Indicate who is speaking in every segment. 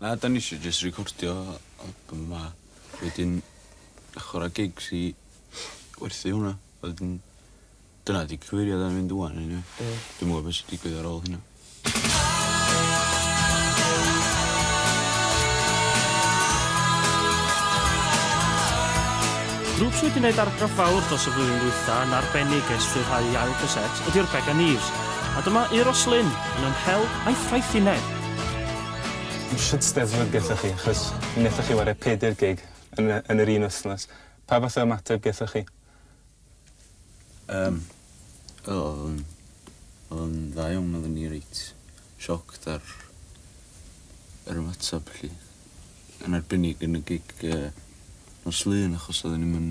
Speaker 1: Na 'dan ni isio jyst recordio album 'ma wedyn chwara gigs i werthu hwnna a wedyn dyna 'di cyfeiriad ar fynd ŵan eniwe. Ie. Dwi'm yn gwbo be' sy digwydd ar ôl hynna.
Speaker 2: Grŵp sy wedi neud argraff fawr dros y flwyddyn ddwytha yn arbennig ers rhyddhau 'i ail gasét ydyw'r Began Eves a dyma Euros Lyn yn 'Yn Hel' a'i Ffraethineb.
Speaker 3: Shwt steddfod gethoch chi? Achos mi nethoch chi ware peder gig yn y yn yr un wthnos. Pa fath o ymateb gethoch chi? Yym
Speaker 1: o odd o'n odd o'n dda iawn odden ni reit shocked ar yr ymatab felly. Yn arbennig yn y gig yy nos Lun achos odden ni'm yn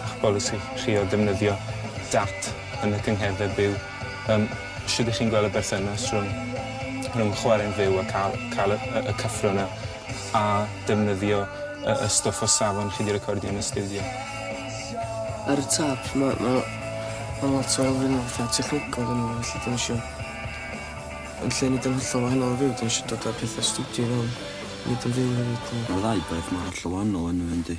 Speaker 3: A'ch polisi chi o ddefnyddio dat yn y cyngherddau byw, yym, shwt y'ch chi'n gweld y berthynas rhwng rhwng chwarae'n fyw a cael cael y y y cyffro 'na, a defnyddio y y stwff o safon chi 'di recordio yn y stiwdio?
Speaker 4: Ar y top ma' ma' ma' lot o elfenne fatha technegol ynddo fo felly 'dan ni isio yn lle neud o'n hollol wahanol o fyw 'dan ni isio dod â petha stiwdio i fewn, neud o'n fyw hefyd. Ma'r ddau beth mor
Speaker 1: hollol wahanol ynddo fe yndi?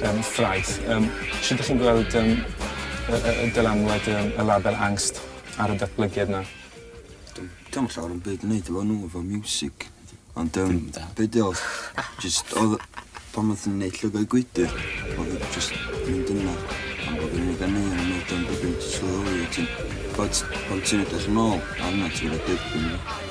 Speaker 3: Yym, ffraeth. Yym, shwt 'dych chi'n gweld yym y y y dylanwad yym y label Angst ar y datblygiad 'na? Dw'm dw'm
Speaker 5: yn llawer o'm byd yn neud efo nw efo miwsig ond yym be' 'di o jyst odd pan odd nw'n neud Llygaid Gwydyr odd o jyst mynd yna am bo' fi'n ugen un yn neud o'n debyg jyst sylweddoli o' ti'n t'od pan ti'n edrych yn ôl arnat ti ma' 'na derfyn yna.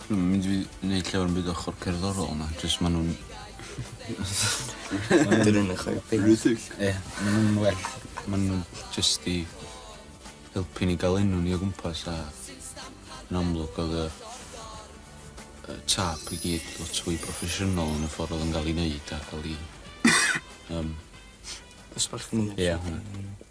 Speaker 1: Dwi'm yn mynd i neud llawer o'm byd ochor cerddorol na jyst ma' nw'n
Speaker 5: ma' nw'n un o chwe punt. Rhythig. Ie ma' nw'n
Speaker 1: well ma' nw'n jyst i helpu ni ga'l enw ni o gwmpas a yn amlwg odd y y tâp i gyd lot fwy proffesiynol yn y ffor odd o'n ga'l 'i neud a ca'l 'i yym...
Speaker 4: Dosbarthu. Ie.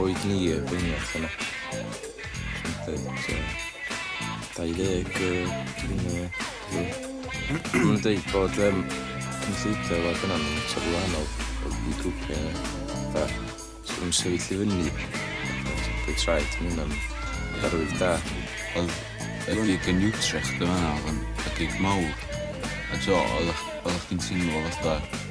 Speaker 5: O'i glir fy ngwch yna. Pump, so... 20 grinio. Mae'n dweud bod um, cynllwyddo fod yn am taflu wahanol o fi grwpiau da. So yn sefyll i fyny. Dwi'n traed yn hynna'n arwydd da. Oedd y
Speaker 1: gig yn Utrecht yma, oedd yn y gig mawr. A do, oedd o'ch ti'n teimlo fatha